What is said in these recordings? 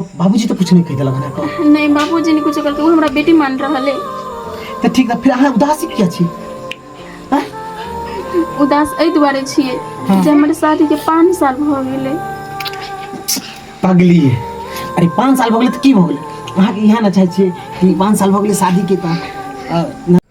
बाबूजी तऽ कुछ नहि कहि देलक हमरा कह नहि बाबूजी नहि कुछो कहलकै ओ हमरा बेटी मान रहल है तऽ ठीक तऽ फिर अहाँ उदासी किया छी आँय? उदास एहि दुआरे छियै हँ। जे हमर शादी के पाँच साल भऽ गेलै पगली है अरे पाँच साल भऽ गेलै तऽ की भऽ गेलै अहाँके इएह ने चाहै छियै कि पाँच साल भऽ गेलै शादीके तऽ अ,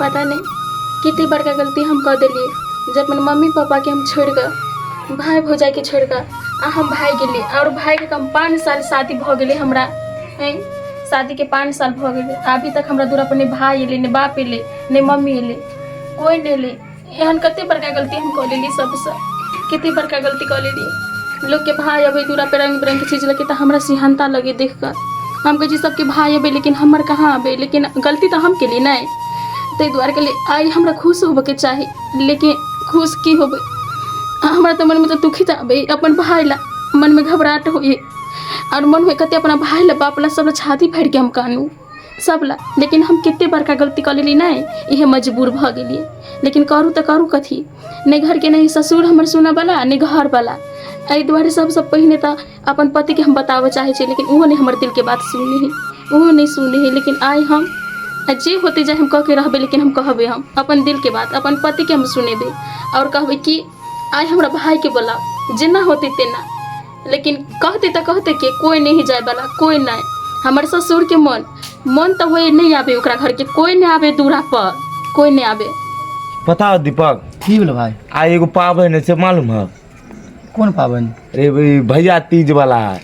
पता नहि कते बड़का गलती हम कऽ देलियै जे अपन मम्मी पापाके हम छोड़ि कऽ भाय भौजाइके छोड़ि कऽ आ हम भागि गेलियै आओर भायके तऽ हम पाँच साल शादी भऽ गेलै हमरा आँय शादीके पाँच साल भऽ गेलै अभी तक हमरा दूरापर नहि भाय अयलै नहि बाप अयलै नहि मम्मी अयलै कोइ नहि अयलै एहन कते बड़का गलती हम कऽ लेली सबसँ कते बड़का गलती कऽ लेली लोकके भाय अबै दूरा पर रङ्ग बिरङ्गके चीज लऽके तऽ हमरा सिहनता लगै देख कऽ हम कहै छी सबके भाय अबै लेकिन हमर कहाँ अबै लेकिन गलती तऽ हम केली नहि ताहि दुआरे कहली आइ हमरा खुश होबऽके चाही लेकिन खुश की होबै हमरा तऽ मनमे तऽ दुखी तऽ अबै अपन भाय ला मनमे घबराहट होइए आओर मनमे कते अपना भाय ला बाप ला सब ला छाती फाड़ि के हम कानू सब ला लेकिन हम कते बड़का गलती कऽ लेली नहि इहे मजबूर भऽ गेलियै लेकिन करू तऽ करू कथी नहि घरके नहि ससुर हमर सुनऽवला नहि घरवला एहि दुआरे सबसँ पहिने तऽ अपन पतिके हम बताबऽ चाहै छी लेकिन ओहो नहि हमर दिलके बात सुनै है ओहो नहि सुनै है लेकिन आइ हम आ जे होते जाए हम कऽ के रहबै लेकिन हम कहबै हम अपन दिलके बात अपन पतिके हम सुनेबै आओर कहबै कि आइ हमरा भायके बोलाउ जेना होतै तेना लेकिन कहतै तऽ कहतै के कोइ नहि जायवला कोइ नहि हमर ससुरके मन मन तऽ होइ नहि आबे ओकरा घरके कोइ नहि आबे दूरा पर कोइ नहि आबे पता हो दीपक की भेल भाय आ एगो पाबनि से मालूम है कोन पाबनि अरे भाई भैया तीज वाला है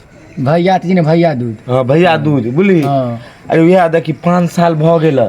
भैया तीज ने भैया दूज हाँ भैया दूज बुझली हाँ। अरे वएह देखी पाँच साल भऽ गेल है।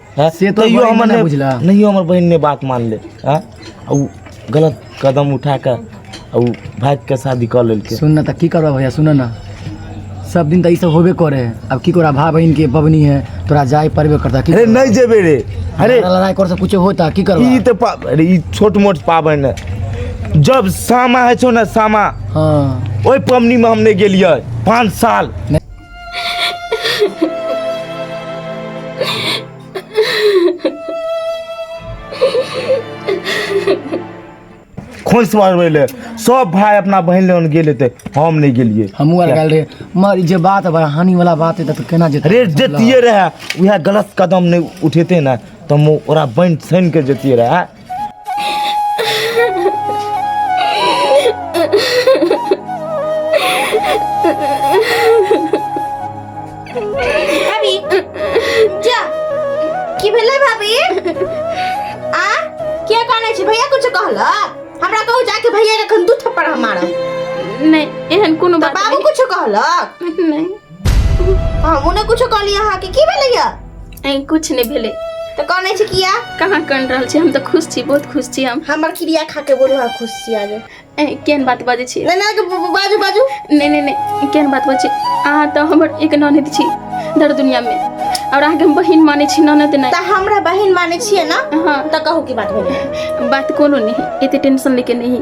हैं? से तो तैयो बहिन हमर ने नहि- बुझला। नहियो हमर बहिन नहि बात मानले हैं? आ उ गलत कदम उठा कऽ आ उ भागि कऽ शादी कऽ लेलकै सुन ना तऽ की करबह भैया सुन ना सब दिन तऽ ई सब होबे करे है अब की तोरा भाय बहिन के बबनी है तोरा जाय पड़बे करता की अरे करबह? नहीं जेबे रे अरे लड़ाई- लड़ाई कर से कुछ होता की ई करबह तऽ पा अरे ई छोट मोट पाबनि है जब सामा है छौ ने सामा हाँ ओहि पबनीमे हम नहि गेलियै पाँच साल खोइस मारबै ले सब भाय अपना बहन लग गेल हेतै हम नहि गेलियै हमहूँ आर गेल रहे मगर ई जे बात है हानि वाला बात है तऽ केना जेतै रे जतिये रहए उएह गलत कदम नहि उठेतै ने तऽ हम ओकरा बनि छानि कऽ जतिये रहए ভাবি যা কি भेलै भाभी आ क्या कहने छै भैया कुछ कहला हमरा कहू जाके भैया के एखन दू थप्पड़ हम मारब नहीं एहन कोनो तऽ बात बाबू कुछ कहलक नहीं नहीं हम उन्हें कुछ कहली अहाँ के की भेले या ए कुछ नहीं भेले तो कहने छी किया कहाँ कन रहल छी हम तो खुश छी बहुत खुश छी हम हमर क्रिया खा के बोलू हाँ खुश छी आगे ए केन बात बाजे छी नहीं नहीं ब- ब- बाजू बाजू नहीं नहीं नहीं केन बात बाजे अहाँ तो हमर एक ननद छी दर दुनिया में और अहाँ के हम बहिन माने छी ननद तो नहीं हमरा बहन माने छिए ना हाँ तो कहू की बात भेले बात कोनो नहीं एते टेंशन लेके नहीं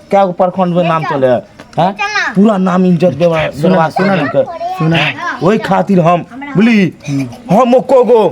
क्या को प्रखंड में नाम चले है हाँ? पूरा नाम इज्जत देवा सुना सुना सुना वही खातिर हम बोली हम को गो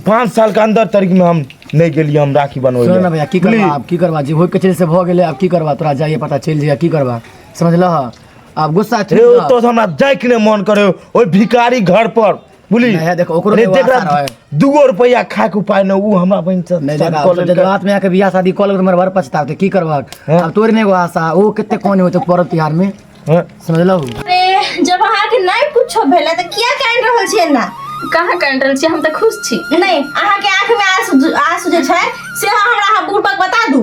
पाँच साल के अंदर तरीक में हम नहीं के लिए हम राखी बनवे सुन ना भैया की करवा आप की करवा जी होई के चले से भ गेले आप की करवा तोरा जाइए पता चल जाइए की करवा समझ लह आप गुस्सा रे तो हमरा जाए के मन करे ओई भिखारी घर पर बुझली नहीं है, देखो, ओकरो अरे के देख वास्ता रहा, रहे। दूगो रुपया खाए के उपाय न ऊ हमरा बहन से नहीं शादी देखा कऽ अब लेलकै। जज्बात में आके बियाह शादी कॉल कर मरवर पछताव तो की करबक हाँ। अब तोरे ने एगो आशा ओ कितने कौन होते पर्व तिहार में हाँ, समझलौ अरे जब अहाँके नहि कुछो भेलै तऽ किया काटि रहल छियै ना कहाँ काटि रहल छी हम तऽ खुश छी नहि अहाँके आँखमे आँसू आँसू जे छै से हमरा अहाँ बुढ़बक बता दू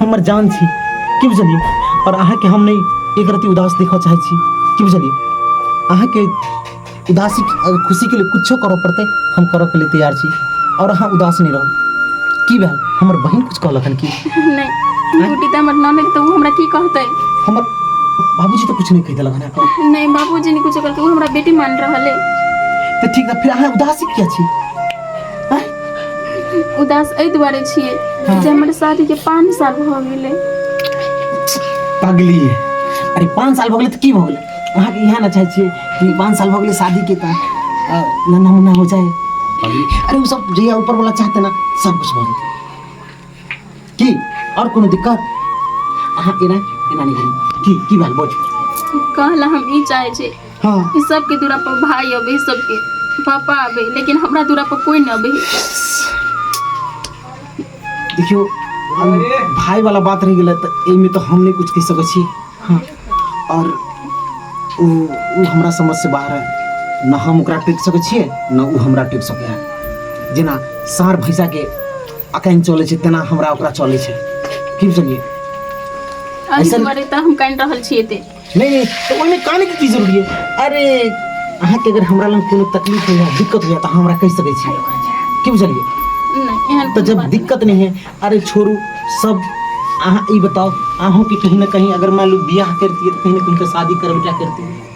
हमर जान छी की बुझलियै आओर अहाँके हम नहि एक रति उदास देखऽ चाहै छी की बुझलियै अहाँके उदासी खुशीके लिए किछो करऽ पड़तै हम करऽके लिए तैयार छी आओर अहाँ उदास नहि रहू की भेल हमर बहिन कुछ कहलक हन की नहीं ड्यूटी तो हमर ननद तो उ हमरा की कहते हमर बाबूजी तो कुछ नहीं कह देलक हन का नहीं बाबूजी ने कुछ कहते उ हमरा बेटी मान रहले तो ठीक है फिर अहाँ उदासी किया छी उदास एहि दुआरे छियै हँ। जे हमर शादीके पाँच साल भऽ गेलै पगली अरे पाँच साल भऽ गेलै तऽ की भऽ गेलै अहाँके इएह ने चाहै छियै कि पाँच साल भऽ गेलै शादीके तऽ अ, नन्हा मुन्ना हो जाए अरे ओ सब जहिया ऊपर वाला चाहते ना सब कुछ भऽ जेतै কি और कोनो दिक्कत अहाँ एना एना नहीं करी की की बात बोझ कहला हम ई चाहे छे हां ई सब के दूरा पर भाई अबे सब के पापा अबे लेकिन हमरा दूरा पर कोई ना अबे देखियो हम भाई वाला बात रह गेलै तऽ एहिमे तऽ हम नहि किछु कहि सकै छी हँ आओर ओ ओ हमरा समझसँ बाहर है ना हम ओकरा टेक सकै छियै ना ओ हमरा टेक सकै है जेना साँढ़ भैंसाके अखन चलै छै तेना हमरा ओकरा चलै छै की बुझलियै अहीं ऐसन- दुआरे तऽ हम कानि रहल छी एते नहीं नहीं तो ओहिमे काने के की जरूरी है अरे अहाँ के अगर हमरा लग कोनो तकलीफ होइया दिक्कत होइया तऽ अहाँ हमरा कहि सकै छी की बुझलियै नहि एहन तऽ कोनो जब बात दिक्कत नहीं है अरे छोड़ू सब अहाँ ई बताओ अहूँ के कहीं ना कहीं अगर मान लो बियाह करती है तो कहीं ना कहीं तो शादी करबे क्या करती है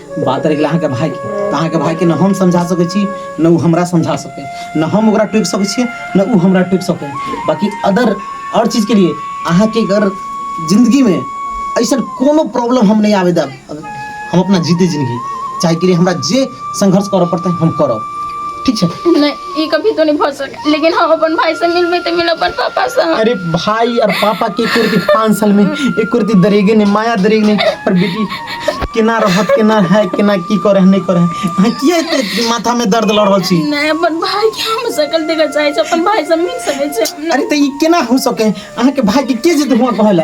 बात रहि गेल अहाँके भायके तऽ अहाँके भायके ने हम समझा सकै छी ने ओ हमरा समझा सकै ने हम ओकरा टोकि सकै छियै ने ओ हमरा टोकि सकै बाकी अदर आओर चीजके लिए अहाँके अगर जिन्दगीमे ऐसन कोनो प्रॉब्लम हम नहि आबे देब हम अपना जीते जिन्दगी चाहे के लिए हमरा जे संघर्ष करऽ पड़तै हम करब ठीक छै नहि ई कभी तो नहीं भर सके लेकिन हम अपन भाई से मिलबे तो मिल अपन पापा से अरे भाई और पापा के एक कुर्ती पाँच साल में एक कुर्ती दरेगे ने माया दरेगे ने पर बेटी केना रहत केना है केना की करे है, नहीं करे है। अहाँ किया एते माथा में दर्द लड़ रहल छी नहीं अपन भाई के हम सकल देखा चाहे अपन भाई से मिल सके छै अरे तो ई केना हो सके है? अहाँ के भाई के के जेते हुआ कहला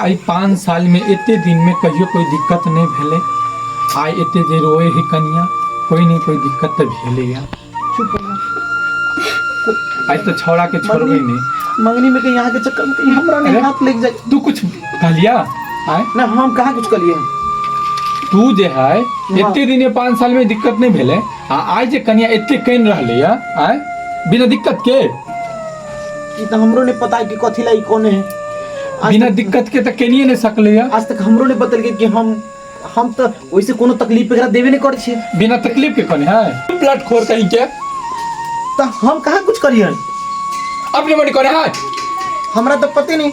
आइ पाँच सालमे एते दिनमे कहियो कोइ दिक्कत नहि भेलै आइ एते जे रोए है कनिया कोइ नहि कोइ दिक्कत तऽ भेलैया आइ तऽ छौड़ा के छोड़बै नहि मंगनी में कहीं अहाँके चक्कर में कहीं हमरा नहीं हाथ लग जाए तू कुछ कहलिया आय ना हम कहाँ कुछ करिए तू जे है एते दिने पाँच साल में दिक्कत नहीं भेले आ आइ जे कनिया एते कन रहले आय बिना दिक्कत के ई तऽ हमरो नहि पता कि कथी लए ई कोने है आज बिना तक- दिक्कत के तऽ केनिए नहि सकलै है आज तक हमरो नहि बतेलकै कि हम हम तऽ ओइसे कोनो तकलीफ एकरा देबे नहि करै छियै बिना तकलीफ के कोने है प्लट खोर कहीं के तऽ हम कहाँ कुछ करियन अपने मन कोने है हमरा तऽ पते नहि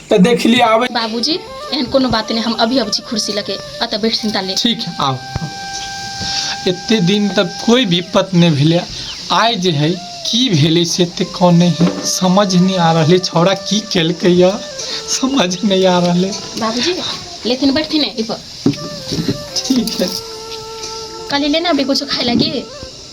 तऽ देख लिए आवे बाबूजी एहन कोनो बात नहीं हम अभी अब छी कुर्सी लगे अतः बैठ चिंता ले ठीक है आओ एते दिन तक कोई विपत नहीं भेले आय जे है की भेले से ते कौन नहीं है समझ नहीं आ रहले छौड़ा की केलके या समझ नहीं आ रहले बाबूजी लेथिन बैठथिन एहि पर ठीक है कल लेना भी कुछ खाए लगी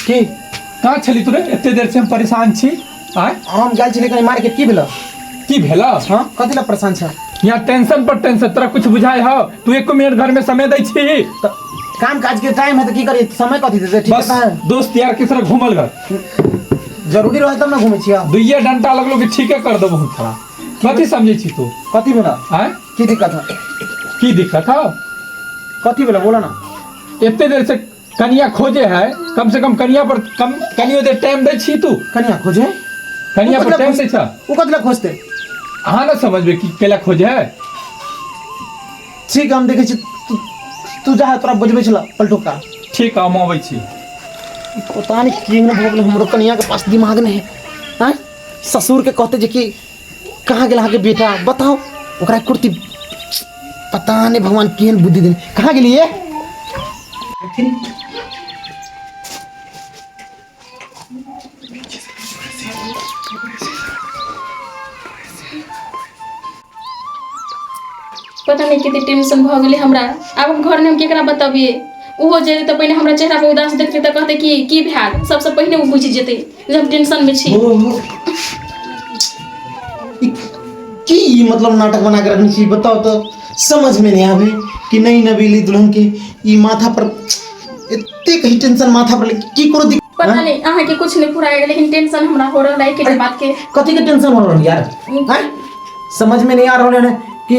की कहाँ छली तू रे एते देर से हम परेशान छी आय हम गेल छलियै कहीं मार्केट की भेलौ की भेला हँ कथी लए परेशान छै यहाँ टेंशन पर टेंशन तोरा कुछ बुझाय हो तू एक मिनट घर में समय दै छी तऽ काम काज के टाइम है तऽ की करी समय कथी देतै ठीक बस है दोस्त यार के साथ घूमल कर जरूरी रहै तब ने घूमै छियै दुइये डंटा लगलो कि ठीके कर देबो हम तोरा कथी समझे छी तू कथी भेलौ आय की दिक्कत है की दिक्कत हो कथी भेलौ बोलऽ ने एते देर से कनिया खोजे है कम से कम कनिया पर कम कनियो दे टाइम दे छी तू कनिया खोजे कनिया पर टाइम दे छ उ कतला खोजते अहाँ ना समझबे कि केला खोजे है ठीक हम देखे छी तू जा तोरा बजबे छला पलटो का ठीक हम आबै छी पता नहीं कि हमरो कनिया के पास दिमाग नहीं है ससुर के कहते जे कि कहाँ गेल अहाँके बेटा बताओ ओकरा कुर्ती पता नहीं भगवान केहन बुद्धि देने कहाँ गेलिए पता नहीं कितने टेंशन भ गेले हमरा अब हम घर में हम केकरा बताबिए ओहो जेते तो पहले हमरा चेहरा पर उदास देखते तो कहते कि की भैल सबसे पहले वो बुझ जेते जे हम टेंशन मे छी की ई मतलब नाटक बना कऽ रखने छी बताउ तऽ समझमे नहि आबै कि नहि नबेली दुल्हन के ई माथा पर एतेक ही टेंशन माथा पर की कोनो दिक्कत पता आँय? नहि अहाँके कुछ नहि पूरा होइया लेकिन टेंशन हमरा हो रहल है किसी बात के कथी के टेंशन हो रहल है यार आँय? समझ में नहीं आ रहल है कि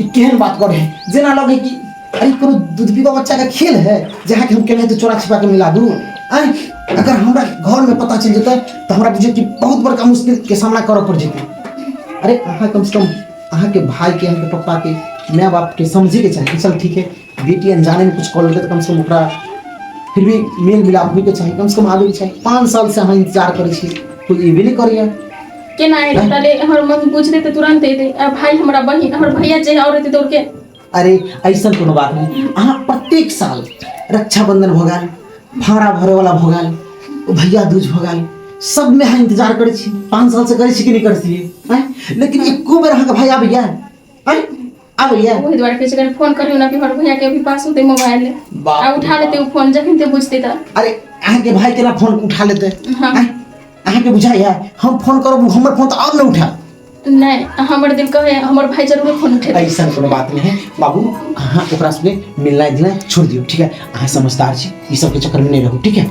ई केहन बात करे है जेना लगे कि अरे कोनो दुधबी का बच्चा का खेल है जहाँ के हम केना तो चोरा छिपा के मिला दू आय अगर हमरा घर में पता चल जतै तो हमरा बुझे कि बहुत बड़का मुश्किल के सामना करऽ पड़ जेतै अरे अहाँ कम से कम अहाँ के भाई के अहाँ के पप्पा के माय बाप के समझे के चाही चल ठीक है बेटी अनजाने में कुछ कॉल तऽ कमसँ कम ओकरा फिर भी मेल मिलाप होइके चाही कमसँ कम आबैके चाही पाँच सालसँ अहाँ इन्तजार करै छी कोइ एबे नहि करैए केना एतै हाँ। ताले हमर मन बुझते तऽ तुरंत एतै आ भाई हमरा बहिन हमर भैया जे और एतै दौड़ के अरे ऐसा कोनो बात नहीं अहाँ प्रत्येक साल रक्षाबंधन भऽ गेल भाड़ा भरैवला भऽ गेल भैया दूज भऽ गेल सबमे अहाँ इन्तजार करै छी पाँच सालसँ करै छी कि नहि करै छियै आँय लेकिन एको बेर अहाँके भाई आबैए आँय आब लिया ओहि दुआरे कहै छै कनि फोन करियो ना कि हमर भैया के अभी पास होते मोबाइल बाप आ उठा लेते ओ फोन जखन ते बुझते त अरे अहाँ के भाई केना फोन उठा लेते हाँ। आँय? अहाँ के बुझाइया हम फोन करब हमर फोन तऽ आओर नहि उठा नहीं हमर दिल कहे हमर भाई जरूर फोन उठेते ऐसा कोनो बात नहीं है बाबू अहाँ ओकरा सबके मिलनाइ दिनाइ छोड़ दियौ ठीक है अहाँ समझदार छी ई सबके चक्कर में नहीं रहू ठीक है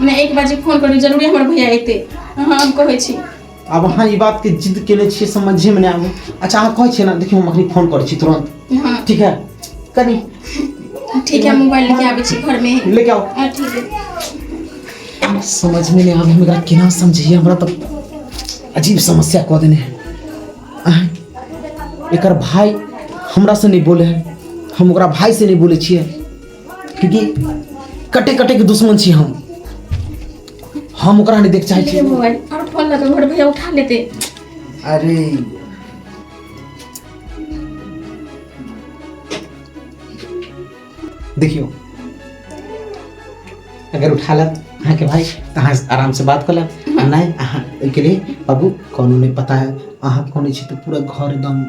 मने एक बजे फोन करू जरूरे हमर भैया एतै अहाँ हम कहै छी आब अहाँ ई बात के जिद केने छियै समझे में नहीं आवे अच्छा अहाँ कहै छियै ना देखियो हम अखनी फोन करै छी तुरंत हाँ ठीक है कनी ठीक है मोबाइल लेके आबै छी घर में लेके आओ हाँ ठीक है समझ में नहीं आवे हमरा केना समझिए हमरा तो अजीब समस्या कह देने है आँय, एकर भाई हमरा से नहीं बोले है हम ओकरा भाई से नहीं बोले छियै क्योंकि कटे कटे के दुश्मन छी हम हम ओकरा नहीं देख चाहे छी मोबाइल और फोन लगा मोर भैया उठा लेते अरे देखियो अगर उठा लत अहाँ के भाई तो अहाँ आराम से बात कर लत आ नहीं अहाँ के लिए बाबू कोनो नहीं पता है अहाँ कोनो छी तो पूरा घर एकदम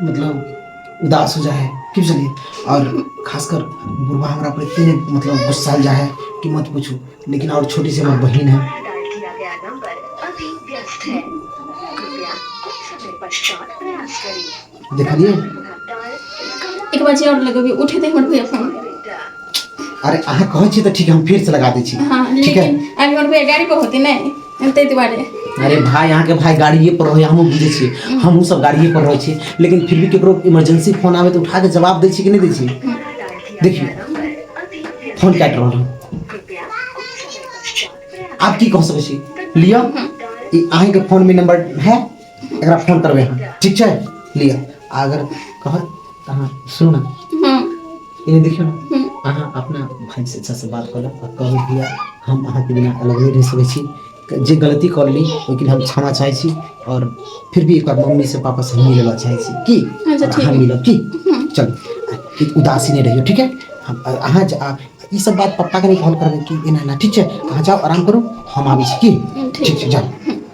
मतलब उदास हो जाए कि बुझलियै आओर खासकर बुढ़बा हमरा पर एते नहि मतलब गुस्साल जाए है कि मत पूछू लेकिन आओर छोटी सी हमर बहिन है देखलियै एक बार और लगेबी उठे दे हमर भैया फोन अरे अहाँ कहै छी तऽ ठीक है हम फिर से लगा दै छी हाँ, ठीक है अभी हमर भैया गाड़ी पर होते नहीं ताहि दुआरे अरे भाय यहाँ के भाय गाड़िए पर रहे हमहूँ बुझे छी हमहूँ सब गाड़िए पर रहे छी लेकिन फिर भी केकरो इमरजेंसी फोन आवे तो उठा के जवाब दे छी कि नहीं दे छी देखिए फोन काट रहा हूँ आप की कह सके छी लिया अहीं के फोन में नंबर है एकरा फोन करबै हम ठीक छै लिअ आ अगर कहत तऽ अहाँ सुनू ने हम्म, इन्हें देखियौ ने हम्म, अहाँ अपना भाई से अच्छा से बात कऽ लेब आ कहू भैया हम अहाँके बिना अलग नहि रहि सकै छी क- जे गलती कर ली ओहिके लिए हम क्षमा चाहै छी और फिर भी एक बार मम्मी से पापा से हम मिले ला चाहै छी की अच्छा, और ठीक अहाँ है। मिलब की चलू ई उदासी नहि रहियो ठीक है हम आ- अहाँ जा- आ- ई सब बात पप्पा के नहीं कहल करबै कि एना एना ठीक छै अहाँ जाओ आराम करू हम आबै छी की हम्म, ठीक ठीक छै जाओ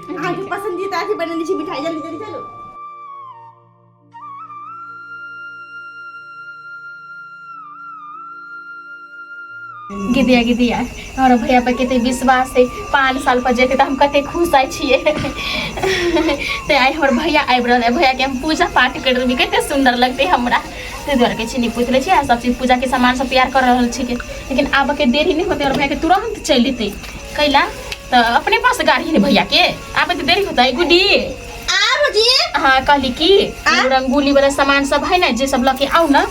आज पसंदीदा अथी बनेने छी मिठाई जल्दी जल्दी चलो गिदिया गिदिया हमरा भैया पर कते विश्वास है पाँच साल पर जेते तऽ हम कते खुश आइ छियै ते आइ हमर भैया आबि रहल है भैया के हम पूजा पाठ कर देबी कते सुंदर लगते हमरा ताहि दुआरे कहै छी निपुत लै छी आ सब चीज पूजा के सामान सब तैयार कर रहल छिकै लेकिन आबऽ के देरी नहि होते और भैया के तुरंत चलि एतै कैला त अपने पास गाड़ी ने भैया के आबे त देरी होता है गुडी आ बुझी हाँ कहली कि आ? उ रंगोली वाला सामान सब है ना जे सब लके आऊ ना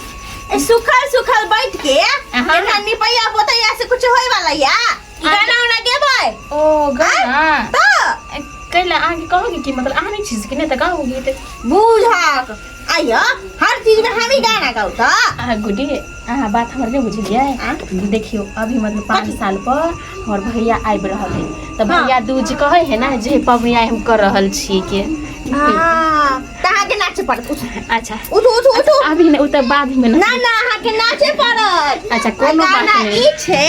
ए, सुखल सुखल बैठ के अहाँ। एना निपैया बोतैया से कुछ होय वाला या गाना उना गेबै ओ गाना त कैला आगे कहोगे कि मतलब आने चीज के नहीं त कहोगे त बुझक आइय हर चीज में हम ही गाना गाऊ त अहाँ गुडी अहाँ बात हमर नहीं बुझलिए आ? देखियो अभी मतलब पाँच कथी? साल पर हमर भैया आबि रहल है तऽ हाँ। भैया दूज कहे है ना जे पबनी आइ हम कर रहल छी के हां कहा के नाचे पड़त उठ अच्छा उठ उठ उठ उठ। अभी ने ओ तऽ बाद में ना ना ना अहाँ के नाचे पड़त अच्छा कोनो बात गाना नहीं ई छै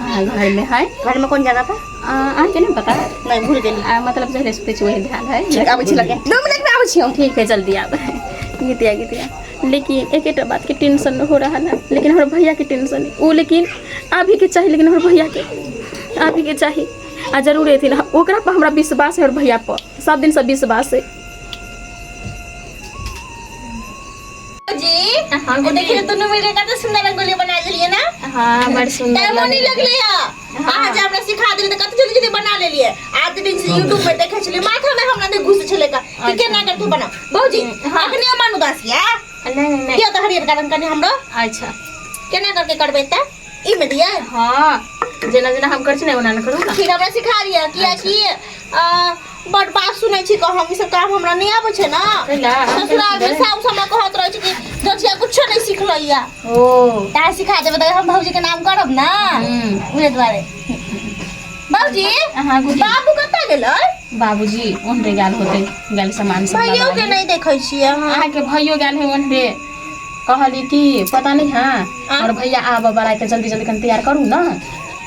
अहाँ घरमे है घरमे कोन जगह पर अहाँके नहि पता नहि भूल गेली आ मतलब जहरे सुतै छी वही ध्यान है ठीक आबै छी लगे दू मिनट में आबै छी हम ठीक है जल्दी आब गीतिया गीतिया लेकिन एकेटा बात के टेंशन हो रहा है लेकिन हमारे भैया के टेंशन है वो लेकिन अभी के चाहिए लेकिन हमारे भैया के अभी के चाहिए आ जरूर एथिन ओकरा पर हमरा विश्वास है और भैया पर सब दिन से विश्वास है हँ जी देखियौ गुलरी दुनू मिल कऽ कते सुन्दर रंगोली बना लेलियै ने हँ बड़ सुन्दर टाइमो नहि लगैत रहै लगलै हँ अहाँ जे हँ हमरा सिखा देलियै तऽ कते जल्दी जल्दी बना लेलियै आ त यूट्यूब पर देखै छलियै माथा मे हमरा नहि घुसे छलै तऽ कि अच्छा केना कऽ के बनाउ भौजी हँ अखनी ओ मन उदास यै नहि नहि नहि दियौ तऽ हरियरका रंग कनि हमरो अच्छा केना कऽ के करबै तऽ ई मे दियै हँ जेना जेना हम करै छी ने ओना ओना करू ने फेर हमरा सिखा दिअ अच्छा कियाकि अ बड बात सुनै छी क हम ई सब काम हमरा नहि आबै छै ने कैला हम केना ससुराल मे सुनबै साउस हमर कहत रहै छै कि ददिया कुछो नहि सिखलैया ओ तैं सिखा देबै तऽ हम भौजी के नाम करब ने हूँ उहे दुआरे बाबूजी अहाँ आगू दियौ बाबू कतऽ गेलै बाबूजी ओनरे गेल होतै गेल सामान सब भैयो लगा के नहि देखै छियै अहाँ अहाँके भैयो गेल है ओनरे कहली कि पता नहि है हमर भैया आबऽ बला है तऽ जल्दी जल्दी कनि तैयार करू ने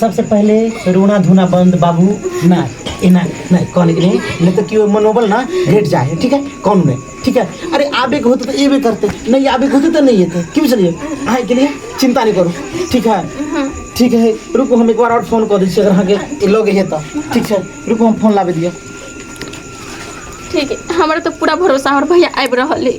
सबसँ पहिले रोना धोना बन्द बाबू नहि एना नहि कहने के नहि नहि तऽ केओ मनोबल ने घटि जाइ हइ ठीक हइ कम नहि ठीक हइ अरे आबैके होतै तऽ अयबे करतै नहि आबैके होतै तऽ नहि अयतै की बुझलियै अहाँके लिए चिन्ता नहि करू ठीक हइ ठीक हइ रुकू हम एक बार आओर फोन कऽ दै छी अगर अहाँके लगे हइ तऽ ठीक छै रुकू हम फोन लाबै दिअ ठीक हइ हमरा तऽ पूरा भरोसा हमर भैया आबि रहल हइ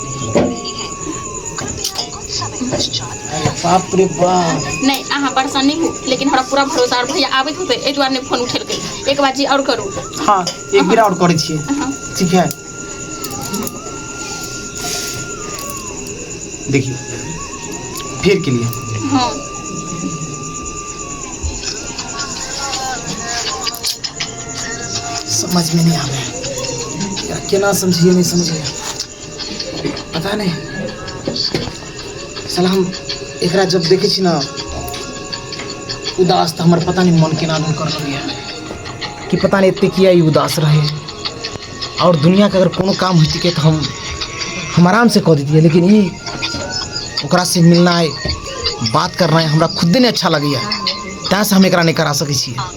अरे बाप रे बाप नहि अहाँ परेशान नहि होउ लेकिन हमरा पूरा भरोसा आओर भैया आबैत होतै एहि दुआरे नहि फोन उठेलकै एक बार जी आओर करू हँ एक बेर आओर करै छियै अहाँ ठीक है देखियौ फेर केलियै हँ समझमे नहि आबै ह केना समझैए नहि समझै पता नहि सलाह एकरा जब देखै छी ने उदास तऽ हमर पता नहि मन केना दन करऽ लगैए कि पता नहि एतेक किए ई उदास रहै आओर दुनिआँके अगर कोनो काम होइ छिकै तऽ हम हम आरामसँ कऽ देतियै लेकिन ई ओकरासँ मिलनाइ बात करनाइ हमरा खुदे नहि अच्छा लगैए तैँसँ हम एकरा नहि करा सकै छियै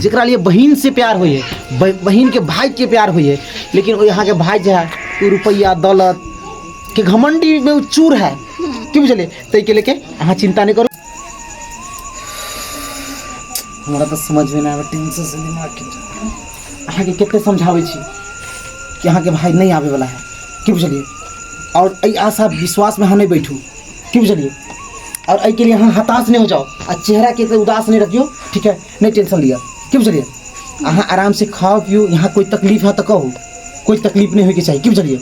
जकरा लिए बहिनसँ प्यार होइए बहिनके भायके प्यार होइए लेकिन ओ अहाँके भाय जे हए ओ रुपैआ दौलत के घमण्डीमे ओ चूर हए की बुझलियै ताहिके लेके अहाँ चिन्ता नहि करू हमरा तऽ समझमे नहि आबै टेंशनसँ दिमागके अहाँके कतेक समझाबै छी कि अहाँके भाय नहि आबैवला हए की बुझलियै आओर एहि आशा विश्वासमे अहाँ नहि बैठू की बुझलियै आओर एहिके लिए अहाँ हताश नहि हो जाउ आ चेहराके से उदास नहि रखियौ ठीक है नहि टेंशन लिअ की बुझलियै अहाँ आराम से खाओ पियो यहाँ कोई तकलीफ है तो कहो कोई तकलीफ नहीं होगी चाहिए की बुझलियै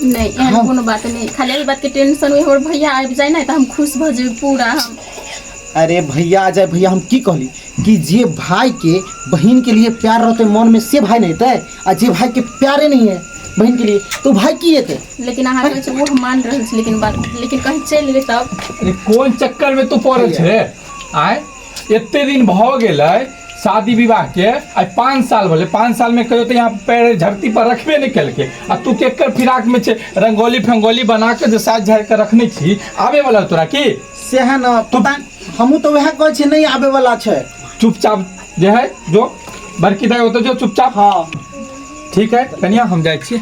नहीं एहन हाँ। कोनो बात नहीं खाली यही बात के टेंशन हुई हमर भैया आबि जाए ना तो हम खुश भ जेबे पूरा हम अरे भैया आ जाए भैया हम की कहली कि जे भाई के बहन के लिए प्यार रहते मन में से भाई नहीं रहते आ जे भाई के प्यारे नहीं है बहन के लिए तो भाई की हेतै लेकिन अहाँ कहै छै वो हम मान रहल छी लेकिन बात लेकिन कहीं चलि गेल तब अरे कोन चक्कर में तू पड़ल छै आय एते दिन भऽ गेलै शादी विवाहके आइ पाँच साल भेलै पाँच सालमे कहियो तऽ यहाँ पैर धरती पर रखबे नहि केलकै आ तू केकर फिराकमे छै रंगोली फंगोली बना कऽ जे साजि झाड़ि कऽ रखने छी आबे वाला तोरा की सएह ने पता हमहूँ तऽ उएह कहै छियै नहि आबे वाला छै चुपचाप जे है जो बड़की दाइ ओतऽ जो चुपचाप हँ ठीक है कनिया हम जाइ छी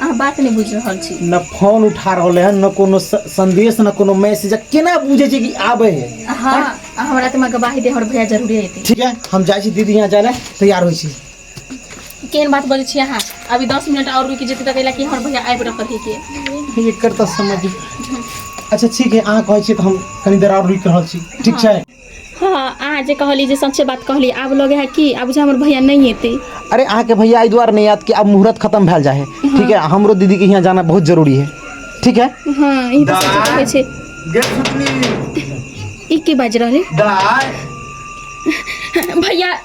अहाँ बात नहि बुझि रहल छी न फोन उठा रहल है न कोनो संदेश न कोनो मैसेज केना बुझे छै कि आबे है हाँ अहाँ रात में गवाही दे हमर भैया जरूरे एतै ठीक है हम जाइ छी दीदी यहाँ जाए तैयार होइ छी केहन बात बजे छी अहाँ अभी दस मिनट और रुकि जेतै तऽ कि हमर भैया आबि रहल है के एकर तऽ समझ अच्छा ठीक है अहाँ कहै छी तऽ हम कनी देर और रुकि रहल छी ठीक छै हँ अहाँ जे कहली जे सच्चे बात कहली आब लगे है कि आब बुझे हमर भैया नहीं एते अरे अहाँ के भैया एहि दुआरे नहीं आयत कि आब मुहूर्त खत्म भैल जाए है ठीक है हमरो दीदी के यहाँ जाना बहुत जरूरी है ठीक है हाँ ई बात सही कहै छै गे सुतली ई की बाजि रहलै दाय भैया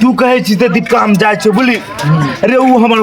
तू कहे छी ते दीपिका हम जाए छो बोली अरे वो हमारे